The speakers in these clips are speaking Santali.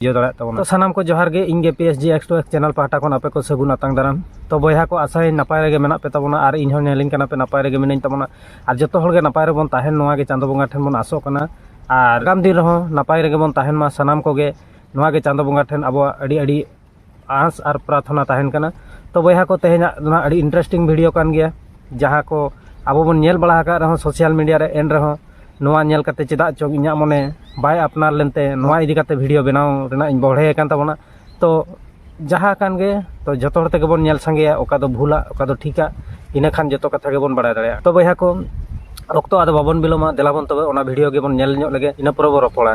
ᱤᱭᱟᱹ ᱫᱟᱲᱮᱭᱟᱜ ᱛᱟᱵᱚᱱᱟ ᱥᱟᱱᱟᱢ ᱠᱚ ᱡᱚᱦᱟᱨ ᱜᱮ ᱤᱧ ᱜᱮ P S G X two X channel ᱯᱟᱦᱴᱟ ᱠᱷᱚᱱ ᱟᱯᱮ ᱠᱚ ᱥᱟᱹᱜᱩᱱ ᱟᱛᱟᱝ ᱫᱟᱨᱟᱢ ᱛᱚ ᱵᱚᱭᱦᱟ ᱠᱚ ᱟᱥᱟᱭ ᱱᱟᱯᱟᱭ ᱨᱮᱜᱮ ᱢᱮᱱᱟᱜ ᱯᱮ ᱛᱟᱵᱚᱱᱟ ᱟᱨ ᱤᱧ ᱦᱚᱸ ᱧᱮᱞᱤᱧ ᱠᱟᱱᱟ ᱯᱮ ᱱᱟᱯᱟᱭ ᱨᱮᱜᱮ ᱢᱤᱱᱟᱹᱧ ᱛᱟᱵᱚᱱᱟ ᱟᱨ ᱡᱚᱛᱚ ᱦᱚᱲ ᱜᱮ ᱱᱟᱯᱟᱭ ᱨᱮᱵᱚᱱ ᱛᱟᱦᱮᱱ ᱱᱚᱣᱟ ᱜᱮ ᱪᱟᱸᱫᱚ ᱵᱚᱸᱜᱟ ᱴᱷᱮᱱ ᱵᱚᱱ ᱟᱥᱚᱜ ᱠᱟᱱᱟ ᱟᱨ ᱟᱜᱟᱢ ᱫᱤᱱ ᱨᱮᱦᱚᱸ ᱱᱟᱯᱟᱭ ᱨᱮᱜᱮ ᱵᱚᱱ ᱛᱟᱦᱮᱱ ᱢᱟ ᱥᱟᱱᱟᱢ ᱠᱚᱜᱮ ᱱᱚᱣᱟ ᱜᱮ ᱪᱟᱸᱫᱚ ᱵᱚᱸᱜᱟ ᱴᱷᱮᱱ ᱟᱵᱚᱣᱟᱜ ᱟᱹᱰᱤ ᱟᱹᱰᱤ ᱟᱸᱥ ᱟᱨ ᱯᱨᱟᱨᱛᱷᱚᱱᱟ ᱛᱟᱦᱮᱱ ᱠᱟᱱᱟ ᱛᱚ ᱵᱚᱭᱦᱟ ᱠᱚ ᱛᱮᱦᱮᱧᱟᱜ ᱫᱚ ᱦᱟᱸᱜ ᱟᱹᱰᱤ ᱤᱱᱴᱟᱨᱮᱥᱴᱤᱝ ᱵᱷᱤᱰᱤᱭᱳ ᱠᱟᱱ ᱜᱮᱭᱟ ᱡᱟᱦᱟᱸ ᱠᱚ ᱟᱵᱚ ᱵᱚᱱ ᱧᱮᱞ ᱵᱟᱲᱟ ᱟᱠᱟᱫ ᱨᱮᱦᱚᱸ ᱥᱳᱥᱟᱞ ᱢᱤᱰᱤᱭᱟ ᱨᱮ ᱮᱱ ᱨᱮᱦᱚᱸ ᱱᱚᱣᱟ ᱧᱮᱞ ᱠᱟᱛᱮ ᱪᱮᱫᱟᱜ ᱪᱚᱝ ᱤᱧᱟᱹᱜ ᱢᱚᱱᱮ ᱵᱟᱭ ᱟᱯᱱᱟᱨ ᱞᱮᱱᱛᱮ ᱱᱚᱣᱟ ᱤᱫᱤ ᱠᱟᱛᱮ ᱵᱷᱤᱰᱤᱭᱳ ᱵᱮᱱᱟᱣ ᱨᱮᱱᱟᱜ ᱤᱧ ᱵᱚᱲᱦᱮ ᱟᱠᱟᱱ ᱛᱟᱵᱚᱱᱟ ᱛᱚ ᱡᱟᱦᱟᱸ ᱠᱟᱱ ᱜᱮ ᱛᱚ ᱡᱚᱛᱚ ᱦᱚᱲ ᱛᱮᱜᱮ ᱵᱚᱱ ᱧᱮᱞ ᱥᱟᱸᱜᱮᱭᱟ ᱚᱠᱟ ᱫᱚ ᱵᱷᱩᱞᱟ ᱚᱠᱟ ᱫᱚ ᱴᱷᱤᱠᱟ ᱤᱱᱟᱹ ᱠᱷᱟᱱ ᱡᱚᱛᱚ ᱠᱟᱛᱷᱟ ᱜᱮᱵᱚᱱ ᱵᱟᱲᱟᱭ ᱫᱟᱲᱮᱭᱟᱜᱼᱟ ᱛᱚ ᱵᱚᱭᱦᱟ ᱠᱚ ᱚᱠᱛᱚ ᱟᱫᱚ ᱵᱟᱵᱚᱱ ᱵᱤᱞᱚᱢᱟ ᱫᱮᱞᱟ ᱵᱚᱱ ᱛᱚᱵᱮ ᱚᱱᱟ ᱵᱷᱤᱰᱤᱭᱳ ᱜᱮᱵᱚᱱ ᱧᱮᱞ ᱧᱚᱜ ᱞᱮᱜᱮ ᱤᱱᱟᱹ ᱯᱚᱨᱮ ᱵᱚᱱ ᱨᱚᱯᱚᱲᱟ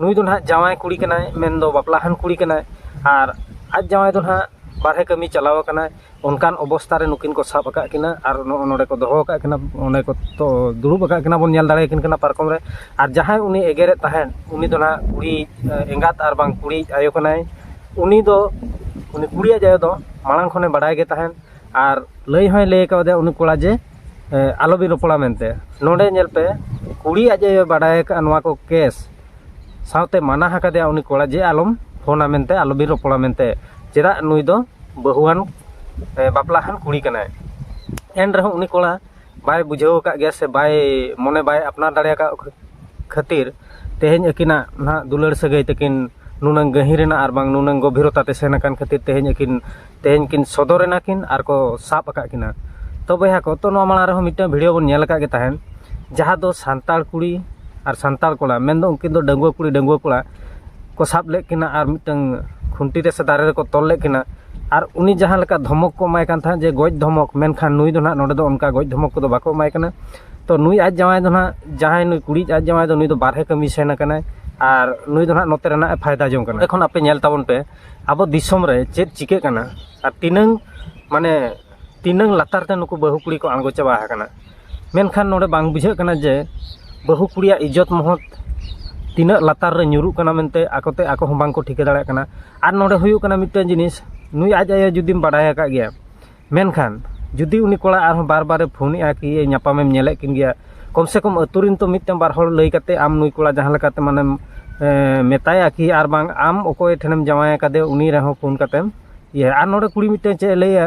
ᱱᱩᱭ ᱫᱚ ᱱᱟᱦᱟᱜ ᱡᱟᱶᱟᱭ ᱠᱩᱲᱤ ᱠᱟᱱᱟᱭ ᱢᱮᱱ ᱫᱚ ᱵᱟᱯᱞᱟ ᱦᱟᱱ ᱠᱩᱲᱤ ᱠᱟᱱᱟᱭ ᱟᱨ ᱟᱡ ᱡᱟᱶᱟᱭ ᱫᱚ ᱱᱟᱦᱟᱜ ᱵᱟᱨᱦᱮ ᱠᱟᱹᱢᱤ ᱪᱟᱞᱟᱣ ᱟᱠᱟᱱᱟᱭ ᱚᱱᱠᱟᱱ ᱚᱵᱚᱥᱛᱟ ᱨᱮ ᱱᱩᱠᱤᱱ ᱠᱚ ᱥᱟᱵ ᱟᱠᱟᱫ ᱠᱤᱱᱟᱹ ᱟᱨ ᱱᱚᱜᱼᱚᱭ ᱱᱚᱰᱮ ᱠᱚ ᱫᱚᱦᱚ ᱟᱠᱟᱫ ᱠᱤᱱᱟᱹ ᱚᱸᱰᱮ ᱠᱚ ᱫᱩᱲᱩᱵ ᱟᱠᱟᱫ ᱠᱤᱱᱟ ᱵᱚᱱ ᱧᱮᱞ ᱫᱟᱲᱮ ᱟᱹᱠᱤᱱ ᱠᱟᱱᱟ ᱯᱟᱨᱠᱚᱢ ᱨᱮ ᱟᱨ ᱡᱟᱦᱟᱸᱭ ᱩᱱᱤ ᱮᱜᱮᱨᱮᱫ ᱛᱟᱦᱮᱸᱫ ᱩᱱᱤ ᱫᱚ ᱱᱟᱦᱟᱜ ᱠᱩᱲᱤᱭᱤᱡ ᱮᱸᱜᱟᱛ ᱟᱨ ᱵᱟᱝ ᱠᱩᱲᱤᱭᱤᱡ ᱟᱭᱳ ᱠᱟᱱᱟᱭ ᱩᱱᱤ ᱫᱚ ᱩᱱᱤ ᱠᱩᱲᱤᱭᱤᱡ ᱟᱭᱳ ᱫᱚ ᱢᱟᱲᱟᱝ ᱠᱷᱚᱱᱮ ᱵᱟᱲᱟᱭ ᱜᱮ ᱛᱟᱦᱮᱸᱫ ᱟᱨ ᱞᱟᱹᱭ ᱦᱚᱸᱭ ᱞᱟᱹᱭ ᱠᱟᱣᱫᱮᱭᱟ ᱩᱱᱤ ᱠᱚᱲᱟ ᱡᱮ ᱟᱞᱚ ᱵᱤᱱ ᱨᱚᱯᱚᱲᱟ ᱢᱮᱱᱛᱮ ᱱᱚᱰᱮ ᱧᱮᱞ ᱯᱮ ᱠᱩᱲᱤ ᱟᱡ ᱮ ᱵᱟᱰᱟᱭ ᱟᱠᱟᱫᱼᱟ ᱱᱚᱣᱟ ᱠᱚ ᱠᱮᱥ ᱥᱟᱶᱛᱮ ᱢᱟᱱᱟ ᱟᱠᱟᱫᱮᱭᱟ ᱩᱱᱤ ᱠᱚᱲᱟ ᱡᱮ ᱟᱞᱚᱢ ᱯᱷᱳᱱᱟ ᱢᱮᱱᱛᱮ ᱟᱞᱚ ᱵᱤᱱ ᱨᱚᱯᱚᱲᱟ ᱢᱮᱱᱛᱮ ᱪᱮᱫᱟᱜ ᱱᱩᱭ ᱫᱚ ᱵᱟᱹᱦᱩᱣᱟᱱ ᱵᱟᱯᱞᱟ ᱟᱠᱟᱱ ᱠᱩᱲᱤ ᱠᱟᱱᱟᱭ ᱮᱱ ᱨᱮᱦᱚᱸ ᱩᱱᱤ ᱠᱚᱲᱟ ᱵᱟᱭ ᱵᱩᱡᱷᱟᱹᱣ ᱟᱠᱟᱫ ᱜᱮᱭᱟ ᱥᱮ ᱵᱟᱭ ᱢᱚᱱᱮ ᱵᱟᱭ ᱟᱯᱱᱟᱨ ᱫᱟᱲᱮ ᱟᱠᱟᱫ ᱠᱷᱟᱹᱛᱤᱨ ᱛᱮᱦᱮᱧ ᱟᱹᱠᱤᱱᱟᱜ ᱱᱟᱦᱟᱜ ᱫᱩᱞᱟᱹᱲ ᱥᱟᱹᱜᱟᱹᱭ ᱛᱟᱹᱠᱤᱱ ᱱᱩᱱᱟᱹᱝ ᱜᱟᱹᱦᱤᱨᱮᱱᱟ ᱟᱨ ᱵᱟᱝ ᱱᱩᱱᱟᱹᱝ ᱜᱚᱵᱷᱤᱨᱚᱛᱟ ᱛᱮ ᱥᱮᱱ ᱟᱠᱟᱱ ᱠᱷᱟᱹᱛᱤᱨ ᱛᱮᱦᱮᱧ ᱟᱹᱠᱤᱱ ᱛᱮᱦᱮᱧ ᱠᱤᱱ ᱥᱚᱫᱚᱨ ᱮᱱᱟ ᱠᱤᱱ ᱟᱨ ᱠᱚ ᱥᱟᱵ ᱟᱠᱟᱫ ᱠᱤᱱᱟ ᱛᱚ ᱵᱚᱭᱦᱟ ᱠᱚ ᱛᱚ ᱱᱚᱣᱟ ᱢᱟᱲᱟᱝ ᱨᱮᱦᱚᱸ ᱢᱤᱫᱴᱟᱝ ᱵᱷᱤᱰᱤᱭᱳ ᱵᱚᱱ ᱧᱮᱞ ᱟᱠᱟᱫ ᱜᱮ ᱛᱟᱦᱮᱸᱫ ᱡᱟᱦᱟᱸ ᱫᱚ ᱥᱟᱱᱛᱟᱲ ᱠᱩᱲᱤ ᱟᱨ ᱥᱟᱱᱛᱟᱲ ᱠᱚᱲᱟ ᱢᱮᱱᱫᱚ ᱩᱱᱠᱤᱱ ᱫᱚ ᱰᱟᱺᱜᱩᱣᱟᱹ ᱠᱩᱲᱤ ᱰᱟᱺᱜᱩᱣᱟᱹ ᱠᱚᱲᱟ ᱠᱚ ᱥᱟᱵ ᱞᱮᱫ ᱠᱤᱱᱟ ᱟᱨ ᱢᱤᱫᱴᱟᱝ ᱠᱷᱩᱱᱴᱤ ᱨᱮ ᱥᱮ ᱫᱟᱨᱮ ᱨᱮᱠᱚ ᱛᱚᱞ ᱞᱮᱫ ᱠᱤᱱᱟ ᱟᱨ ᱩᱱᱤ ᱡᱟᱦᱟᱸ ᱞᱮᱠᱟ ᱫᱷᱚᱢᱚᱠ ᱠᱚ ᱮᱢᱟᱭ ᱠᱟᱱ ᱛᱟᱦᱮᱸᱫ ᱡᱮ ᱜᱚᱡ ᱫᱷᱚᱢᱚᱠ ᱢᱮᱱᱠᱷᱟᱱ ᱱᱩᱭ ᱫᱚ ᱱᱟᱦᱟᱜ ᱱᱚᱰᱮ ᱫᱚ ᱚᱱᱠᱟ ᱜᱚᱡ ᱫᱷᱚᱢᱚᱠ ᱠᱚᱫᱚ ᱵᱟᱠᱚ ᱮᱢᱟᱭ ᱠᱟᱱᱟ ᱛᱚ ᱱᱩᱭ ᱟᱡ ᱡᱟᱶᱟᱭ ᱫᱚ ᱱᱟᱦᱟᱜ ᱡᱟᱦᱟᱸᱭ ᱱᱩᱭ ᱠᱩᱲᱤ ᱟᱡ ᱡᱟᱶᱟᱭ ᱫᱚ ᱱᱩᱭ ᱫᱚ ᱵᱟᱨᱦᱮ ᱠᱟᱹᱢᱤ ᱥᱮᱱ ᱟᱠᱟᱱᱟᱭ ᱟᱨ ᱱᱩᱭ ᱫᱚ ᱱᱟᱦᱟᱜ ᱱᱚᱛᱮ ᱨᱮᱱᱟᱜ ᱮ ᱯᱷᱟᱭᱫᱟ ᱡᱚᱝ ᱠᱟᱱᱟ ᱮᱠᱷᱚᱱ ᱟᱯᱮ ᱧᱮᱞ ᱛᱟᱵᱚᱱ ᱯᱮ ᱟᱵᱚ ᱫᱤᱥᱚᱢ ᱨᱮ ᱪᱮᱫ ᱪᱤᱠᱟᱹᱜ ᱠᱟᱱᱟ ᱟᱨ ᱛᱤᱱᱟᱹᱝ ᱢᱟᱱᱮ ᱛᱤᱱᱟᱹᱝ ᱞᱟᱛᱟᱨ ᱛᱮ ᱱᱩᱠᱩ ᱵᱟᱹᱦᱩ ᱠᱩᱲᱤ ᱠᱚ ᱟᱬᱜᱚ ᱪᱟᱵᱟ ᱟᱠᱟᱱᱟ ᱢᱮᱱᱠᱷᱟᱱ ᱱᱚᱰᱮ ᱵᱟᱝ ᱵᱩᱡᱷᱟᱹᱜ ᱠᱟᱱᱟ ᱡᱮ ᱵᱟᱹᱦᱩ ᱠᱩᱲᱤᱭᱟᱜ ᱤᱡᱽᱡᱚᱛ ᱢᱚᱦᱚᱛ ᱛᱤᱱᱟᱹᱜ ᱞᱟᱛᱟᱨ ᱨᱮ ᱧᱩᱨᱩᱜ ᱠᱟᱱᱟ ᱢᱮᱱᱛᱮ ᱟᱠᱚᱛᱮ ᱟᱠᱚ ᱦᱚᱸ ᱵᱟᱝᱠᱚ ᱴᱷᱤᱠᱟᱹ ᱫᱟᱲᱮᱭᱟᱜ ᱠᱟᱱᱟ ᱟᱨ ᱱᱚᱰᱮ ᱦᱩᱭᱩᱜ ᱠᱟᱱᱟ ᱢᱤᱫᱴᱮᱱ ᱡᱤᱱᱤᱥ ᱱᱩᱭ ᱟᱡ ᱟᱭᱳ ᱡᱩᱫᱤᱢ ᱵᱟᱰᱟᱭ ᱟᱠᱟᱫ ᱜᱮᱭᱟ ᱢᱮᱱᱠᱷᱟᱱ ᱡᱩᱫᱤ ᱩᱱᱤ ᱠᱚᱲᱟ ᱟᱨᱦᱚᱸ ᱵᱟᱨ ᱵᱟᱨᱮ ᱯᱷᱳᱱ ᱮᱫᱼᱟ ᱠᱤ ᱧᱟᱯᱟᱢᱮᱢ ᱧᱮᱞᱮᱫ ᱠᱤᱱ ᱜᱮᱭᱟ ᱠᱚᱢ ᱥᱮ ᱠᱚᱢ ᱟᱹᱛᱩ ᱨᱮᱱ ᱛᱚ ᱢᱤᱫᱴᱟᱝ ᱵᱟᱨ ᱦᱚᱲ ᱞᱟᱹᱭ ᱠᱟᱛᱮᱫ ᱟᱢ ᱱᱩᱭ ᱠᱚᱲᱟ ᱡᱟᱦᱟᱸ ᱞᱮᱠᱟᱛᱮ ᱢᱟᱱᱮᱢ ᱢᱮᱛᱟᱭᱟ ᱠᱤ ᱟᱨ ᱵᱟᱝ ᱟᱢ ᱚᱠᱚᱭ ᱴᱷᱮᱱᱮᱢ ᱡᱟᱶᱟᱭ ᱟᱠᱟᱫᱮᱭᱟ ᱩᱱᱤ ᱨᱮᱦᱚᱸ ᱯᱷᱳᱱ ᱠᱟᱛᱮᱢ ᱤᱭᱟᱹ ᱟᱨ ᱱᱚᱰᱮ ᱠᱩᱲᱤ ᱢᱤᱫᱴᱟᱝ ᱪᱮᱫ ᱮ ᱞᱟᱹᱭᱟ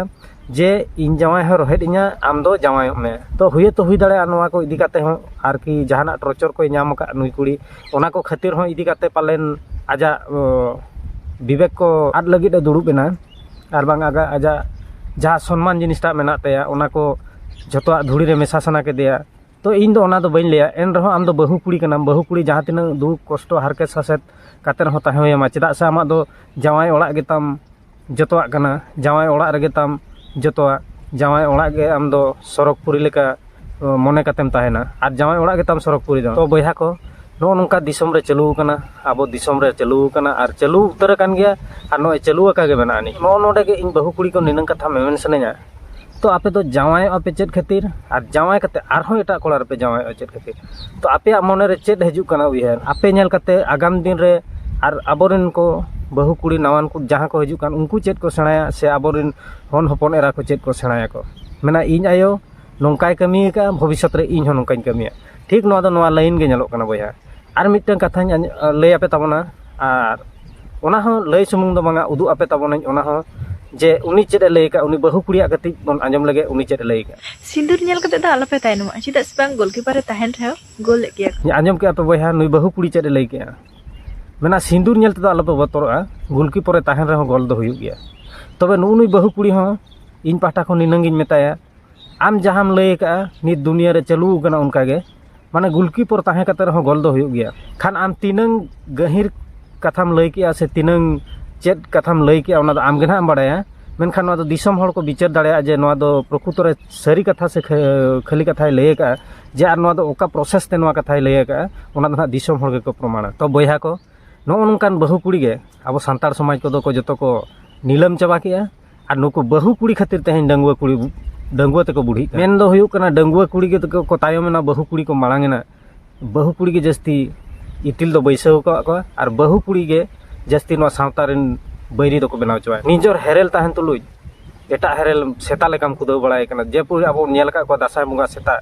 ᱡᱮ ᱤᱧ ᱡᱟᱶᱟᱭ ᱦᱚᱸ ᱨᱳᱦᱮᱫ ᱤᱧᱟᱹ ᱟᱢ ᱫᱚ ᱡᱟᱶᱟᱭᱚᱜ ᱢᱮ ᱛᱚ ᱦᱩᱭ ᱦᱚᱛᱚ ᱦᱩᱭ ᱫᱟᱲᱮᱭᱟᱜᱼᱟ ᱱᱚᱣᱟ ᱠᱚ ᱤᱫᱤ ᱠᱟᱛᱮᱫ ᱦᱚᱸ ᱟᱨᱠᱤ ᱡᱟᱦᱟᱱᱟᱜ ᱴᱨᱚᱪᱚᱨ ᱠᱚᱭ ᱧᱟᱢ ᱟᱠᱟᱫ ᱱᱩᱭ ᱠᱩᱲᱤ ᱚᱱᱟ ᱠᱚ ᱠᱷᱟᱹᱛᱤᱨ ᱦᱚᱸ ᱤᱫᱤ ᱠᱟᱛᱮᱫ ᱯᱟᱞᱮᱱ ᱟᱡᱟᱜ ᱵᱤᱵᱮᱠ ᱠᱚ ᱟᱫ ᱞᱟᱹᱜᱤᱫ ᱮ ᱫᱩᱲᱩᱵ ᱮᱱᱟ ᱟᱨ ᱵᱟᱝ ᱟᱡᱟᱜ ᱟᱡᱟᱜ ᱡᱟᱦᱟᱸ ᱥᱚᱱᱢᱟᱱ ᱡᱤᱱᱤᱥᱴᱟᱜ ᱢᱮᱱᱟᱜ ᱛᱟᱭᱟ ᱚᱱᱟ ᱠᱚ ᱡᱚᱛᱚᱣᱟᱜ ᱫᱷᱩᱲᱤ ᱨᱮ ᱢᱮᱥᱟ ᱥᱟᱱᱟ ᱠᱮᱫᱮᱭᱟ ᱛᱚ ᱤᱧ ᱫᱚ ᱚᱱᱟ ᱫᱚ ᱵᱟᱹᱧ ᱞᱟᱹᱭᱟ ᱮᱱ ᱨᱮᱦᱚᱸ ᱟᱢ ᱫᱚ ᱵᱟᱹᱦᱩ ᱠᱩᱲᱤ ᱠᱟᱱᱟᱢ ᱵᱟᱹᱦᱩ ᱠᱩᱲᱤ ᱡᱟᱦᱟᱸ ᱛᱤᱱᱟᱹᱜ ᱫᱩᱠ ᱠᱚᱥᱴᱚ ᱦᱟᱨᱠᱮᱛ ᱥᱟᱥᱮᱛ ᱠᱟᱛᱮ ᱨᱮᱦᱚᱸ ᱛᱟᱦᱮᱸ ᱦᱩᱭ ᱟᱢᱟ ᱪᱮᱫᱟᱜ ᱥᱮ ᱟᱢᱟᱜ ᱫᱚ ᱡᱟᱶᱟᱭ ᱚᱲᱟᱜ ᱜᱮᱛᱟᱢ ᱡᱚᱛᱚᱣᱟᱜ ᱠᱟᱱᱟ ᱡᱟᱶᱟᱭ ᱚᱲᱟᱜ ᱨᱮᱜᱮ ᱛᱟᱢ ᱡᱚᱛᱚᱣᱟᱜ ᱡᱟᱶᱟᱭ ᱚᱲᱟᱜ ᱜᱮ ᱟᱢ ᱫᱚ ᱥᱚᱨᱚᱜᱽ ᱯᱩᱨᱤ ᱞᱮᱠᱟ ᱢᱚᱱᱮ ᱠᱟᱛᱮᱢ ᱛᱟᱦᱮᱱᱟ ᱟᱨ ᱡᱟᱶᱟᱭ ᱚᱲᱟᱜ ᱜᱮᱛᱟᱢ ᱥᱚᱨᱚᱜᱽᱯᱩᱨᱤ ᱫᱚ ᱛᱚ ᱵᱚᱭᱦᱟ ᱠᱚ ᱱᱚᱜᱼᱚ ᱱᱚᱝᱠᱟ ᱫᱤᱥᱚᱢ ᱨᱮ ᱪᱟᱹᱞᱩ ᱟᱠᱟᱱᱟ ᱟᱵᱚ ᱫᱤᱥᱚᱢ ᱨᱮ ᱪᱟᱹᱞᱩ ᱟᱠᱟᱱᱟ ᱟᱨ ᱪᱟᱹᱞᱩ ᱩᱛᱟᱹᱨ ᱟᱠᱟᱱ ᱜᱮᱭᱟ ᱟᱨ ᱱᱚᱜᱼᱚᱭ ᱪᱟᱹᱞᱩ ᱟᱠᱟ ᱜᱮ ᱢᱮᱱᱟᱜ ᱟᱹᱱᱤᱡ ᱱᱚᱜᱼᱚ ᱱᱚᱰᱮ ᱜᱮ ᱤᱧ ᱵᱟᱹᱦᱩ ᱠᱩᱲᱤ ᱠᱚ ᱱᱤᱱᱟᱹᱝ ᱠᱟᱛᱷᱟ ᱢᱮᱢᱮᱱ ᱥᱟᱱᱟᱹᱧᱟ ᱛᱚ ᱟᱯᱮ ᱫᱚ ᱡᱟᱶᱟᱭᱚᱜᱼᱟ ᱯᱮ ᱪᱮᱫ ᱠᱷᱟᱹᱛᱤᱨ ᱟᱨ ᱡᱟᱶᱟᱭ ᱠᱟᱛᱮ ᱟᱨᱦᱚᱸ ᱮᱴᱟᱜ ᱠᱚᱲᱟ ᱨᱮᱯᱮ ᱡᱟᱶᱟᱭᱚᱜᱼᱟ ᱪᱮᱫ ᱠᱷᱟᱹᱛᱤᱨ ᱛᱚ ᱟᱯᱮᱭᱟᱜ ᱢᱚᱱᱮ ᱨᱮ ᱪᱮᱫ ᱦᱤᱡᱩᱜ ᱠᱟᱱᱟ ᱩᱭᱦᱟᱹᱨ ᱟᱯᱮ ᱧᱮᱞ ᱠᱟᱛᱮ ᱟᱜᱟᱢ ᱫᱤᱱ ᱨᱮ ᱟᱨ ᱟᱵᱚ ᱨᱮᱱ ᱠᱚ ᱵᱟᱹᱦᱩ ᱠᱩᱲᱤ ᱱᱟᱣᱟᱱ ᱠᱚ ᱡᱟᱦᱟᱸ ᱠᱚ ᱦᱤᱡᱩᱜ ᱠᱟᱱ ᱩᱱᱠᱩ ᱪᱮᱫ ᱠᱚ ᱥᱮᱬᱟᱭᱟ ᱥᱮ ᱟᱵᱚ ᱨᱮᱱ ᱦᱚᱱ ᱦᱚᱯᱚᱱ ᱮᱨᱟ ᱠᱚ ᱪᱮᱫ ᱠᱚ ᱥᱮᱬᱟᱭᱟᱠᱚ ᱢᱮᱱᱟ ᱤᱧ ᱟᱭᱳ ᱱᱚᱝᱠᱟᱭ ᱠᱟᱹᱢᱤ ᱟᱠᱟᱫᱼᱟ ᱵᱷᱚᱵᱤᱥᱥᱚᱛ ᱨᱮ ᱤᱧ ᱦᱚᱸ ᱱᱚᱝᱠᱟᱧ ᱠᱟᱹᱢᱤᱭᱟ ᱴᱷᱤᱠ ᱱᱚᱣᱟ ᱫᱚ ᱱᱚᱣᱟ ᱞᱟᱹᱭᱤᱱ ᱜᱮ ᱧᱮᱞᱚᱜ ᱠᱟᱱᱟ ᱵᱚᱭᱦᱟ ᱟᱨ ᱢᱤᱫᱴᱟᱹᱱ ᱠᱟᱛᱷᱟᱧ ᱟᱸᱡᱚᱢ ᱞᱟᱹᱭ ᱟᱯᱮ ᱛᱟᱵᱚᱱᱟ ᱟᱨ ᱚᱱᱟ ᱦᱚᱸ ᱞᱟᱹᱭ ᱥᱩᱢᱩᱝ ᱫᱚ ᱵᱟᱝᱟ ᱩᱫᱩᱜ ᱟᱯᱮ ᱛᱟᱵᱚᱱᱟᱹᱧ ᱚᱱᱟ ᱦᱚᱸ ᱡᱮ ᱩᱱᱤ ᱪᱮᱫ ᱮ ᱞᱟᱹᱭ ᱟᱠᱟᱫᱼᱟ ᱩᱱᱤ ᱵᱟᱹᱦᱩ ᱠᱩᱲᱤᱭᱟᱜ ᱠᱟᱹᱴᱤᱡ ᱵᱚᱱ ᱟᱸᱡᱚᱢ ᱞᱮᱜᱮ ᱩᱱᱤ ᱪᱮᱫ ᱮ ᱞᱟᱹᱭ ᱟᱠᱟᱫᱼᱟ ᱥᱤᱸᱫᱩᱨ ᱧᱮᱞ ᱠᱟᱛᱮ ᱫᱚ ᱟᱞᱚᱯᱮ ᱛᱟᱭᱱᱚᱢᱚᱜᱼᱟ ᱪᱮᱫᱟᱜ ᱥᱮ ᱵᱟᱝ ᱜᱳᱞᱠᱤᱯᱟᱨ ᱮ ᱛᱟᱦᱮᱱ ᱨᱮᱦᱚᱸ ᱜᱳᱞ ᱮᱫ ᱜᱮᱭᱟ ᱠᱚ ᱟᱸᱡᱚᱢ ᱠᱮᱫᱼᱟ ᱯᱮ ᱵᱚᱭᱦᱟ ᱱᱩᱭ ᱵᱟᱹᱦᱩ ᱠᱩᱲᱤ ᱪᱮᱫ ᱮ ᱞᱟᱹᱭ ᱠᱮᱫᱼᱟ ᱢᱮᱱᱟ ᱥᱤᱸᱫᱩᱨ ᱧᱮᱞ ᱛᱮᱫᱚ ᱟᱞᱚᱯᱮ ᱵᱚᱛᱚᱨᱚᱜᱼᱟ ᱜᱳᱞᱠᱤᱯᱟᱨ ᱮ ᱛᱟᱦᱮᱱ ᱨᱮᱦᱚᱸ ᱜᱳᱞ ᱫᱚ ᱦᱩᱭᱩᱜ ᱜᱮᱭᱟ ᱛᱚᱵᱮ ᱱᱩᱜᱼᱩ ᱱᱩᱭ ᱵᱟᱹᱦᱩ ᱠᱩᱲᱤ ᱦᱚᱸ ᱤᱧ ᱯᱟᱦᱴᱟ ᱠᱷᱚᱱ ᱱᱤᱱᱟᱹᱜ ᱜᱤᱧ ᱢᱮᱛᱟᱭᱟ ᱟᱢ ᱡᱟᱦᱟᱸᱢ ᱞᱟᱹᱭ ᱠᱟᱜᱼᱟ ᱱᱤᱛ ᱫᱩᱱᱤᱭᱟᱹ ᱨᱮ ᱪᱟᱹᱞᱩ ᱠᱟᱱᱟ ᱚᱱᱠᱟ ᱜᱮ ᱢᱟᱱᱮ ᱜᱩᱞᱠᱤᱯᱟᱨ ᱛᱟᱦᱮᱸ ᱠᱟᱛᱮ ᱨᱮᱦᱚᱸ ᱜᱳᱞ ᱫᱚ ᱦᱩᱭᱩᱜ ᱜᱮᱭᱟ ᱠᱷᱟᱱ ᱟᱢ ᱛᱤᱱᱟᱹᱝ ᱜᱟᱹᱦᱤᱨ ᱠᱟᱛᱷᱟᱢ ᱞᱟᱹᱭ ᱠᱮᱜᱼᱟ ᱥᱮ ᱛᱤᱱᱟᱹᱝ ᱪᱮᱫ ᱠᱟᱛᱷᱟᱢ ᱞᱟᱹᱭ ᱠᱮᱜᱼᱟ ᱚᱱᱟ ᱫᱚ ᱟᱢ ᱜᱮ ᱦᱟᱸᱜ ᱮᱢ ᱵᱟᱲᱟᱭᱟ ᱢᱮᱱᱠᱷᱟᱱ ᱱᱚᱣᱟ ᱫᱚ ᱫᱤᱥᱚᱢ ᱦᱚᱲ ᱠᱚ ᱵᱤᱪᱟᱹᱨ ᱫᱟᱲᱮᱭᱟᱜᱼᱟ ᱡᱮ ᱱᱚᱣᱟ ᱫᱚ ᱯᱨᱚᱠᱨᱤᱛᱚ ᱨᱮ ᱥᱟᱹᱨᱤ ᱠᱟᱛᱷᱟ ᱥᱮ ᱠᱷᱟᱹᱞᱤ ᱠᱟᱛᱷᱟᱭ ᱞᱟᱹᱭ ᱠᱟᱜᱼᱟ ᱡᱮ ᱟᱨ ᱱᱚᱣᱟ ᱫᱚ ᱚᱠᱟ ᱯᱨᱚᱥᱮᱥ ᱛᱮ ᱱᱚᱣᱟ ᱠᱟᱛᱷᱟᱭ ᱞᱟᱹᱭ ᱠᱟᱜᱼᱟ ᱚᱱᱟ ᱫᱚ ᱦᱟᱸᱜ ᱫᱤᱥᱚᱢ ᱦᱚᱲ ᱜᱮᱠᱚ ᱯᱨᱚᱢᱟᱱᱟ ᱛᱚ ᱵᱚᱭᱦᱟ ᱠᱚ ᱱᱚᱜᱼᱚ ᱱᱚᱝᱠᱟᱱ ᱵᱟᱹᱦᱩ ᱠᱩᱲᱤ ᱜᱮ ᱟᱵᱚ ᱥᱟᱱᱛᱟᱲ ᱥᱚᱢᱟᱡᱽ ᱠᱚᱫᱚ ᱠᱚ ᱡᱚᱛᱚ ᱠᱚ ᱱᱤᱞᱟᱹᱢ ᱪᱟᱵᱟ ᱠᱮᱜᱼᱟ ᱟᱨ ᱱᱩᱠᱩ ᱵᱟᱹᱦᱩ ᱠᱩᱲᱤ ᱠᱷᱟᱹᱛᱤᱨ ᱛᱮᱦᱮᱧ ᱰᱟᱺᱜᱩᱣᱟᱹ ᱠᱩᱲᱤ ᱰᱟᱺᱜᱩᱣᱟᱹ ᱛᱮᱠᱚ ᱵᱩᱰᱷᱤᱜ ᱠᱟᱱᱟ ᱢᱮᱱ ᱫᱚ ᱦᱩᱭᱩᱜ ᱠᱟᱱᱟ ᱰᱟᱺᱜᱩᱣᱟᱹ ᱠᱩᱲᱤ ᱜᱮᱠᱚ ᱛᱟᱭᱚᱢ ᱮᱱᱟ ᱵᱟᱹᱦᱩ ᱠᱩᱲᱤ ᱠᱚ ᱢᱟᱲᱟᱝ ᱮᱱᱟ ᱵᱟᱹᱦᱩ ᱠᱩᱲᱤ ᱜᱮ ᱡᱟᱹᱥᱛᱤ ᱤᱯᱤᱞ ᱫᱚ ᱵᱟᱹᱭᱥᱟᱹᱣ ᱟᱠᱟᱫ ᱠᱚᱣᱟ ᱟᱨ ᱵᱟᱹᱦᱩ ᱠᱩᱲᱤ ᱜᱮ ᱡᱟᱹᱥᱛᱤ ᱱᱚᱣᱟ ᱥᱟᱶᱛᱟ ᱨᱮᱱ ᱵᱟᱹᱭᱨᱤ ᱫᱚᱠᱚ ᱵᱮᱱᱟᱣ ᱪᱟᱵᱟᱭᱮᱫ ᱠᱚᱣᱟ ᱱᱤᱡᱚᱨ ᱦᱮᱨᱮᱞ ᱛᱟᱦᱮᱱ ᱛᱩᱞᱩᱡ ᱮᱴᱟᱜ ᱦᱮᱨᱮᱞ ᱥᱮᱛᱟ ᱞᱮᱠᱟᱢ ᱠᱷᱩᱫᱟᱹᱣ ᱵᱟᱲᱟᱭᱮ ᱠᱟᱱᱟ ᱡᱮ ᱯᱚᱨᱤ ᱟᱵᱚ ᱵᱚᱱ ᱧᱮᱞ ᱟᱠᱟᱫ ᱠᱚᱣᱟ ᱫᱟᱸᱥᱟᱭ ᱵᱚᱸᱜᱟ ᱥᱮᱛᱟ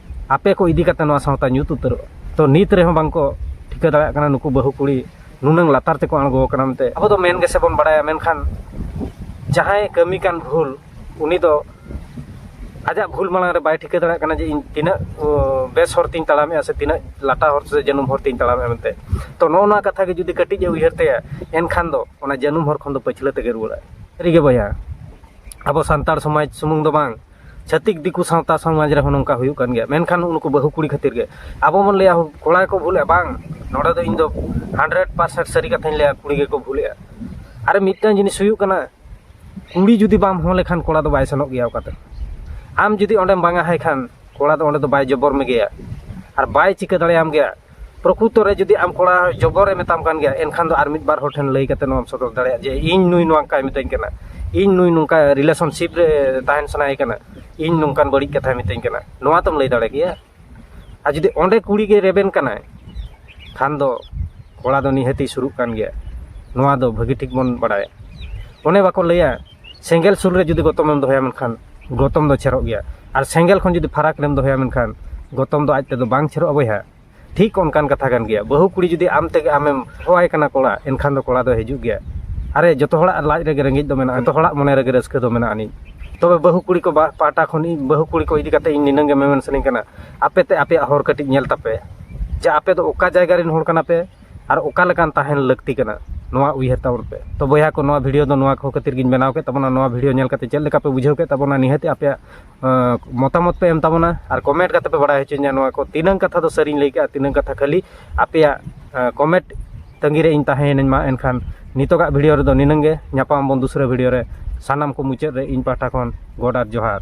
ᱟᱯᱮ ᱠᱚ ᱤᱫᱤ ᱠᱟᱛᱮ ᱱᱚᱣᱟ ᱥᱟᱶᱛᱟ ᱧᱩᱛ ᱩᱛᱟᱹᱨᱚᱜᱼᱟ ᱛᱚ ᱱᱤᱛ ᱨᱮᱦᱚᱸ ᱵᱟᱝ ᱠᱚ ᱴᱷᱤᱠᱟᱹ ᱫᱟᱲᱮᱭᱟᱜ ᱠᱟᱱᱟ ᱱᱩᱠᱩ ᱵᱟᱹᱦᱩ ᱠᱩᱲᱤ ᱱᱩᱱᱟᱹᱝ ᱞᱟᱛᱟᱨ ᱛᱮᱠᱚ ᱟᱬᱜᱚ ᱟᱠᱟᱱᱟ ᱢᱮᱱᱛᱮ ᱟᱵᱚ ᱫᱚ ᱢᱮᱱ ᱜᱮᱥᱮ ᱵᱚᱱ ᱵᱟᱲᱟᱭᱟ ᱢᱮᱱᱠᱷᱟᱱ ᱡᱟᱦᱟᱸᱭ ᱠᱟᱹᱢᱤ ᱠᱟᱱ ᱵᱷᱩᱞ ᱩᱱᱤ ᱫᱚ ᱟᱡᱟᱜ ᱵᱷᱩᱞ ᱢᱟᱲᱟᱝ ᱨᱮ ᱵᱟᱭ ᱴᱷᱤᱠᱟᱹ ᱫᱟᱲᱮᱭᱟᱜ ᱠᱟᱱᱟ ᱡᱮ ᱤᱧ ᱛᱤᱱᱟᱹᱜ ᱵᱮᱥ ᱦᱚᱨ ᱛᱤᱧ ᱛᱟᱲᱟᱢᱮᱜᱼᱟ ᱥᱮ ᱛᱤᱱᱟᱹᱜ ᱞᱟᱴᱟ ᱦᱚᱨ ᱥᱮ ᱡᱟᱹᱱᱩᱢ ᱦᱚᱨ ᱛᱤᱧ ᱛᱟᱲᱟᱢᱮᱜᱼᱟ ᱢᱮᱱᱛᱮ ᱛᱚ ᱱᱚᱜᱼᱚ ᱱᱚᱣᱟ ᱠᱟᱛᱷᱟ ᱜᱮ ᱡᱩᱫᱤ ᱠᱟᱹᱴᱤᱡ ᱮ ᱩᱭᱦᱟᱹᱨ ᱛᱟᱭᱟ ᱮᱱᱠᱷᱟᱱ ᱫᱚ ᱚᱱᱟ ᱡᱟᱹᱱᱩᱢ ᱦᱚᱨ ᱠᱷᱚᱱ ᱫᱚ ᱯᱟᱹᱪᱷᱞᱟᱹ ᱛᱮᱜᱮ ᱨᱩᱣᱟᱹᱲᱟᱭ ᱥᱟᱹᱨᱤᱜᱮ ᱵᱚᱭᱦᱟ ᱟᱵᱚ ᱥᱟᱱᱛᱟᱲ ᱥᱚᱢᱟᱡᱽ ᱥᱩᱢᱩᱝ ᱫᱚ ᱵᱟᱝ ᱪᱷᱟᱹᱛᱤᱠ ᱫᱤᱠᱩ ᱥᱟᱶᱛᱟ ᱥᱚᱢᱟᱡᱽ ᱨᱮᱦᱚᱸ ᱱᱚᱝᱠᱟ ᱦᱩᱭᱩᱜ ᱠᱟᱱ ᱜᱮᱭᱟ ᱢᱮᱱᱠᱷᱟᱱ ᱩᱱᱠᱩ ᱵᱟᱹᱦᱩ ᱠᱩᱲᱤ ᱠᱷᱟᱹᱛᱤᱨ ᱜᱮ ᱟᱵᱚ ᱵᱚᱱ ᱞᱟᱹᱭᱟ ᱠᱚᱲᱟ ᱜᱮᱠᱚ ᱵᱷᱩᱞᱮᱜᱼᱟ ᱵᱟᱝ ᱱᱚᱰᱮ ᱫᱚ ᱤᱧ ᱫᱚ ᱦᱟᱱᱰᱨᱮᱰ ᱯᱟᱨᱥᱮᱱᱴ ᱥᱟᱹᱨᱤ ᱠᱟᱛᱷᱟᱧ ᱞᱟᱹᱭᱟ ᱠᱩᱲᱤ ᱜᱮᱠᱚ ᱵᱷᱩᱞᱮᱜᱼᱟ ᱟᱨ ᱢᱤᱫᱴᱟᱱ ᱡᱤᱱᱤᱥ ᱦᱩᱭᱩᱜ ᱠᱟᱱᱟ ᱠᱩᱲᱤ ᱡᱩᱫᱤ ᱵᱟᱢ ᱦᱚᱦᱚ ᱞᱮᱠᱷᱟᱱ ᱠᱚᱲᱟ ᱫᱚ ᱵᱟᱭ ᱥᱮᱱᱚᱜ ᱜᱮᱭᱟ ᱚᱠᱟᱛᱮ ᱟᱢ ᱡᱩᱫᱤ ᱚᱸᱰᱮᱢ ᱵᱟᱝ ᱟᱭ ᱠᱷᱟᱱ ᱠᱚᱲᱟ ᱫᱚ ᱚᱸᱰᱮ ᱫᱚ ᱵᱟᱭ ᱡᱚᱵᱚᱨ ᱢᱮᱜᱮᱭᱟ ᱟᱨ ᱵᱟᱭ ᱪᱤᱠᱟᱹ ᱫᱟᱲᱮᱭᱟᱢ ᱜᱮᱭᱟ ᱯᱨᱚᱠᱨᱩᱛᱚ ᱨᱮ ᱡᱩᱫᱤ ᱟᱢ ᱠᱚᱲᱟ ᱡᱚᱜᱚᱨᱮ ᱢᱮᱛᱟᱢ ᱠᱟᱱ ᱜᱮᱭᱟ ᱮᱱᱠᱷᱟᱱ ᱫᱚ ᱟᱨ ᱢᱤᱫ ᱵᱟᱨ ᱦᱚᱲ ᱴᱷᱮᱱ ᱞᱟᱹᱭ ᱠᱟᱛᱮ ᱱᱚᱣᱟᱢ ᱥᱚᱫᱚᱨ ᱫᱟᱲᱮᱭᱟᱜᱼᱟ ᱡᱮ ᱤᱧ ᱱᱩᱭ ᱱᱚᱝᱠᱟᱭ ᱢᱤᱛᱟᱹᱧ ᱠᱟᱱᱟ ᱤᱧ ᱱᱩᱭ ᱱᱚᱝᱠᱟ ᱨᱤᱞᱮᱥᱚᱱᱥᱤᱯ ᱨᱮ ᱛᱟᱦᱮᱱ ᱥᱟᱱᱟᱭᱮ ᱠᱟᱱᱟ ᱤᱧ ᱱᱚᱝᱠᱟᱱ ᱵᱟᱹᱲᱤᱡ ᱠᱟᱛᱷᱟᱭ ᱢᱤᱛᱟᱹᱧ ᱠᱟᱱᱟ ᱱᱚᱣᱟ ᱛᱚᱢ ᱞᱟᱹᱭ ᱫᱟᱲᱮ ᱠᱮᱭᱟ ᱟᱨ ᱡᱩᱫᱤ ᱚᱸᱰᱮ ᱠᱩᱲᱤ ᱜᱮ ᱨᱮᱵᱮᱱ ᱠᱟᱱᱟᱭ ᱠᱷᱟᱱ ᱫᱚ ᱠᱚᱲᱟ ᱫᱚ ᱱᱤᱦᱟᱹᱛᱮ ᱥᱩᱨᱩᱜ ᱠᱟᱱ ᱜᱮᱭᱟ ᱱᱚᱣᱟ ᱫᱚ ᱵᱷᱟᱹᱜᱤ ᱴᱷᱤᱠ ᱵᱚᱱ ᱵᱟᱲᱟᱭᱟ ᱚᱱᱮ ᱵᱟᱠᱚ ᱞᱟᱹᱭᱟ ᱥᱮᱸᱜᱮᱞ ᱥᱩᱨ ᱨᱮ ᱡᱩᱫᱤ ᱜᱚᱛᱚᱢ ᱮᱢ ᱫᱚᱦᱚᱭᱟ ᱢᱮᱱᱠᱷᱟᱱ ᱜᱚᱛᱚᱢ ᱫᱚ ᱪᱷᱮᱨᱚᱜ ᱜᱮᱭᱟ ᱟᱨ ᱥᱮᱸᱜᱮᱞ ᱠᱷᱚᱱ ᱡᱩᱫᱤ ᱯᱷᱟᱨᱟᱠ ᱨᱮᱢ ᱫᱚᱦᱚᱭᱟ ᱢᱮᱱᱠᱷᱟᱱ ᱜᱚᱛᱚᱢ ᱫᱚ ᱟᱡ ᱛᱮᱫᱚ ᱵᱟᱝ ᱪᱷᱮᱨᱚᱜᱼᱟ ᱵᱚᱭᱦᱟ ᱴᱷᱤᱠ ᱚᱱᱠᱟᱱ ᱠᱟᱛᱷᱟ ᱠᱟᱱ ᱜᱮᱭᱟ ᱵᱟᱹᱦᱩ ᱠᱩᱲᱤ ᱡᱩᱫᱤ ᱟᱢ ᱛᱮᱜᱮ ᱟᱢᱮᱢ ᱦᱚᱦᱚᱣᱟᱭ ᱠᱟᱱᱟ ᱠᱚᱲᱟ ᱮᱱᱠᱷᱟᱱ ᱫᱚ ᱠᱚᱲᱟ ᱫᱚ ᱦᱤᱡᱩᱜ ᱜᱮᱭᱟ ᱟᱨᱮ ᱡᱚᱛᱚ ᱦᱚᱲᱟᱜ ᱞᱟᱡ ᱨᱮᱜᱮ ᱨᱮᱸᱜᱮᱡ ᱫᱚ ᱢᱮᱱᱟᱜᱼᱟ ᱡᱚᱛᱚ ᱦᱚᱲᱟᱜ ᱢᱚᱱᱮ ᱨᱮᱜᱮ ᱨᱟᱹᱥᱠᱟᱹ ᱫᱚ ᱢᱮᱱᱟᱜ ᱟᱹᱱᱤᱡ ᱛᱚᱵᱮ ᱵᱟᱹᱦᱩ ᱠᱩᱲᱤ ᱠᱚ ᱯᱟᱦᱴᱟ ᱠᱷᱚᱱ ᱤᱧ ᱵᱟᱹᱦᱩ ᱠᱩᱲᱤ ᱠᱚ ᱤᱫᱤ ᱠᱟᱛᱮ ᱤᱧ ᱱᱤᱱᱟᱹᱝ ᱜᱮ ᱢᱮᱢᱮᱱ ᱥᱟᱱᱟᱧ ᱠᱟᱱᱟ ᱟᱯᱮ ᱛᱮ ᱟᱯᱮᱭᱟᱜ ᱦᱚᱨ ᱠᱟᱹᱴᱤᱡ ᱧᱮᱞ ᱛᱟᱯᱮ ᱡᱮ ᱟᱯᱮ ᱫᱚ ᱚᱠᱟ ᱡᱟᱭᱜᱟ ᱨᱮᱱ ᱦᱚᱲ ᱠᱟᱱᱟ ᱯᱮ ᱟᱨ ᱚᱠᱟ ᱞᱮᱠᱟᱱ ᱛᱟᱦᱮᱱ ᱞᱟᱹᱠᱛᱤ ᱠᱟᱱᱟ ᱱᱚᱣᱟ ᱩᱭᱦᱟᱹᱨ ᱛᱟᱵᱚᱱ ᱯᱮ ᱛᱚ ᱵᱚᱭᱦᱟ ᱠᱚ ᱱᱚᱣᱟ ᱵᱷᱤᱰᱤᱭᱳ ᱫᱚ ᱱᱚᱣᱟ ᱠᱚ ᱠᱷᱟᱹᱛᱤᱨ ᱜᱤᱧ ᱵᱮᱱᱟᱣ ᱠᱮᱫ ᱛᱟᱵᱚᱱᱟ ᱱᱚᱣᱟ ᱵᱷᱤᱰᱤᱭᱳ ᱧᱮᱞ ᱠᱟᱛᱮᱫ ᱪᱮᱫ ᱞᱮᱠᱟ ᱯᱮ ᱵᱩᱡᱷᱟᱹᱣ ᱠᱮᱫ ᱛᱟᱵᱚᱱᱟ ᱱᱤᱦᱟᱹᱛ ᱟᱯᱮᱭᱟᱜ ᱢᱚᱛᱟᱢᱚᱛ ᱯᱮ ᱮᱢ ᱛᱟᱵᱚᱱᱟ ᱟᱨ ᱠᱚᱢᱮᱱᱴ ᱠᱟᱛᱮᱫ ᱯᱮ ᱵᱟᱲᱟᱭ ᱦᱚᱪᱚᱧᱟ ᱱᱚᱣᱟ ᱠᱚ ᱛᱤᱱᱟᱹᱜ ᱠᱟᱛᱷᱟ ᱫᱚ ᱥᱟᱹᱨᱤᱧ ᱞᱟᱹᱭ ᱠᱟᱜᱼᱟ ᱛᱤᱱᱟᱹᱜ ᱠᱟᱛᱷᱟ ᱠᱷᱟᱹᱞᱤ ᱟᱯᱮᱭᱟᱜ ᱠᱚᱢᱮᱱᱴ ᱛᱟᱺᱜᱤ ᱨᱮ ᱤᱧ ᱛᱟᱦᱮᱸᱭᱮᱱᱟᱹᱧ ᱢᱟ ᱮᱱᱠᱷᱟᱱ ᱱᱤᱛᱚᱜᱟᱜ ᱵᱷᱤᱰᱤᱭᱳ ᱨᱮᱫᱚ ᱱᱤᱱᱟᱹᱝ ᱜᱮ ᱧᱟᱯᱟᱢ ᱟᱵᱚᱱ ᱫᱩᱥᱨᱟᱹ ᱵᱷᱤᱰᱤᱭᱳ ᱨᱮ ᱥᱟᱱᱟᱢ ᱠᱚ ᱢᱩᱪᱟᱹᱫ ᱨᱮ ᱤᱧ ᱯᱟᱦᱴᱟ ᱠᱷᱚᱱ ᱜᱚᱰ ᱟᱨ ᱡᱚᱦᱟᱨ